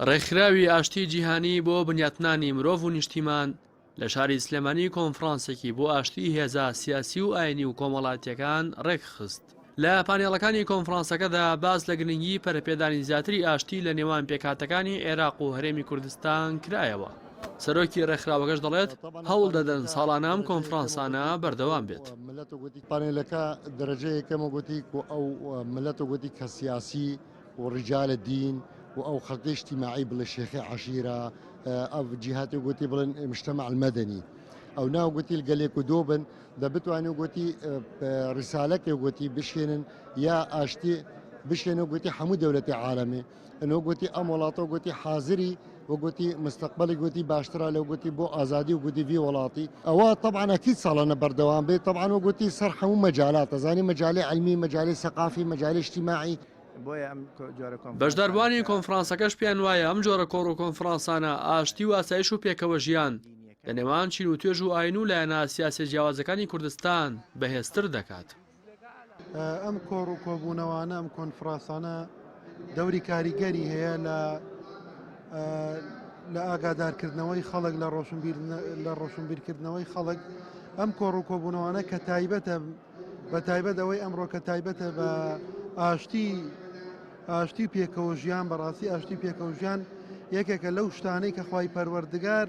ڕێکخراوی ئاشتی جیهانی بۆ بنیاتنانی مرۆڤ و نیشتیمان لە شاری سلێمانی کۆنفرانسێکی بۆ ئاشتی هێزا سیاسی و ئاینی و کۆمەڵاتیەکان ڕێکخست لە پانێڵەکانی کۆنفرانسەکەدا باز لە گرنگی پەرپێدانی زیاتری ئاشتی لە نێوان پێکاتەکانی عێراق و هەرێمی کوردستان کرایەوە. سەرۆکی ڕێکخراوەکەش دەڵێت هەوڵ دەدەن ساڵانام کۆنفرانسانە بەردەوام بێت پانێلەکە دەرەجەیەکەمە گوتی ئەو ملەتە گوتی کە سیاسی و ڕیجالە دین و ئەو خەڵکەی ئیجتیماعی بڵێ شێخی عەشیرە ئەو جیهاتی گوتی بڵێن مشتەمە المەدەنی ئەو ناو گوتیل گەلێک و دۆ بن دە بتوانێت گوتی ڕیسالەکێ گوتی بشێنن یا ئاشتی بشێنە گوتی هەموو دەولەتی عاالەمێ ئەنۆ گوتی ئەم وڵاتە گوتی حازری وگوتی مستقبلی گوتی باشترە لەو گوتی بۆ ئازادی و گوتی وی وڵاتی ئەوە طبعاان ئەکیید ساڵانە بەردەوام بێت طبعاان وگوتی سەر حەموو مەجالات ئەزانی مەجالی علمی مەجالی سەقافی مەجالی شتیماعی بەشداربووانی کۆنفرانسەکەش پێیان وایە ئەم جۆرە کۆڕ و کۆنفرانسانە ئاشتی و ئاسایش و پێکەوە ژیان لە نێوان چین و توێژ و ئاین و لایەنە سیاسیە جیاوازەکانی کوردستان بەهێزتر دەکات. ئەم کۆڕ و کۆبوونەوانە ئەم کۆنفڕاسانە دەوری کاریگەری هەیە لە لە ئاگادارکردنەوەی خەڵک لە ڕۆشنبیر لە ڕۆشنبیرکردنەوەی خەڵک ئەم کۆڕ و کۆبوونەوانە کە تایبەتە بە تایبەت ئەوەی ئەمڕۆ کە تایبەتە بە ئاشتی ئاشتی پێکەوە ژیان بەڕاستی ئاشتی پێکەوە ژیان یەکێکە لەو شتانەی کە خی پەروەردگار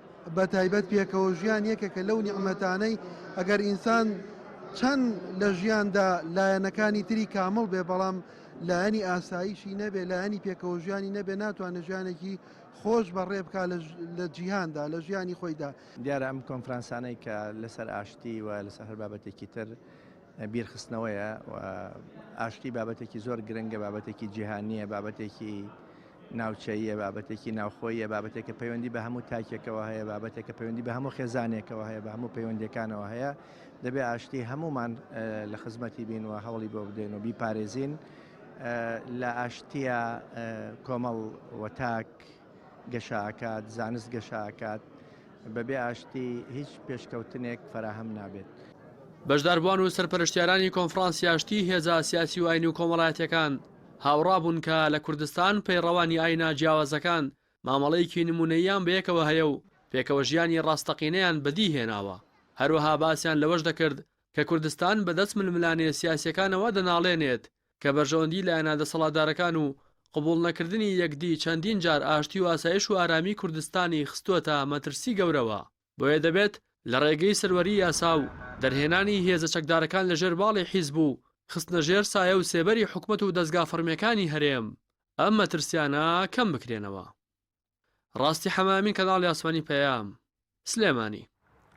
بەتایبەت پێکەوە ژیان یەکێکە لەو نیعمەتانەی ئەگەر ئینسان چەند لە ژیاندا لایەنەکانی تری کامڵ بێ بەڵام لایەنی ئاسایشی نەبێ لایەنی پێکەوە ژیانی نەبێ ناتوانێت ژیانێکی خۆش بەڕێ بکە لە جیهاندا لە ژیانی خۆیدا دیارە ئەم کۆنفرانسانەی کە لەسەر ئاشتی و لەسەر هەر بابەتێکی تر بیرخستنەوەیە و ئاشتی بابەتێکی زۆر گرنگە، بابەتێکی جیهانییە، بابەتێکی ناوچەییە، بابەتێکی ناوخۆییە، بابەتێکە پەیوەندی بە هەموو تاکێکەوە هەیە، بابەتێکە پەیوەندی بە هەموو خێزانێکەوە هەیە، بە هەموو پەیوەندیەکانەوە هەیە، دەبێ ئاشتی هەمومان لە خزمەتی بین و هەوڵی بۆ بدەین و بیپارێزین. لە ئاشتیە کۆمەڵ و تاک گەشە ئەکات، زانست گەشە ئەکات، بەبێ ئاشتی هیچ پێشکەوتنێک فەراهەم نابێت. بەشداربوان و سەرپەرشتیارانی کۆنفرانسی ئاشتی هێزە سیاسی و ئاینی و کۆمەڵایەتیەکان هاوڕا بوون کە لە کوردستان پەیڕەوانی ئاینە جیاوازەکان مامەڵەیەکی نمونەییان بەیەکەوە هەیە و پێکەوە ژیانی ڕاستەقینەیان بەدی هێناوە هەروەها باسیان لەوەش دەکرد کە کوردستان بەدەست ململانێ سیاسیەکانەوە دەناڵێنێت کە بەرژەوەندی لایەنە دەسەڵاتدارەکان و قبوڵ نەکردنی یەکدی چەندین جار ئاشتی و ئاسایش و ئارامی کوردستانی خستووەتە مەترسی گەورەوە، بۆیە دەبێت لە ڕێگەی سەروەری یاسا و دەرهێنانی هێزە چەکدارەکان لە ژێر باڵی حیزب و خستنە ژێر سایە و سێبەری حکومەت و دەزگا فەڕمیەکانی هەرێم ئەم مەترسیانە کەم بکرێنەوە. ڕاستی حەمە ئەمین کەناڵی ئاسمانی پەیام. سلێمانی.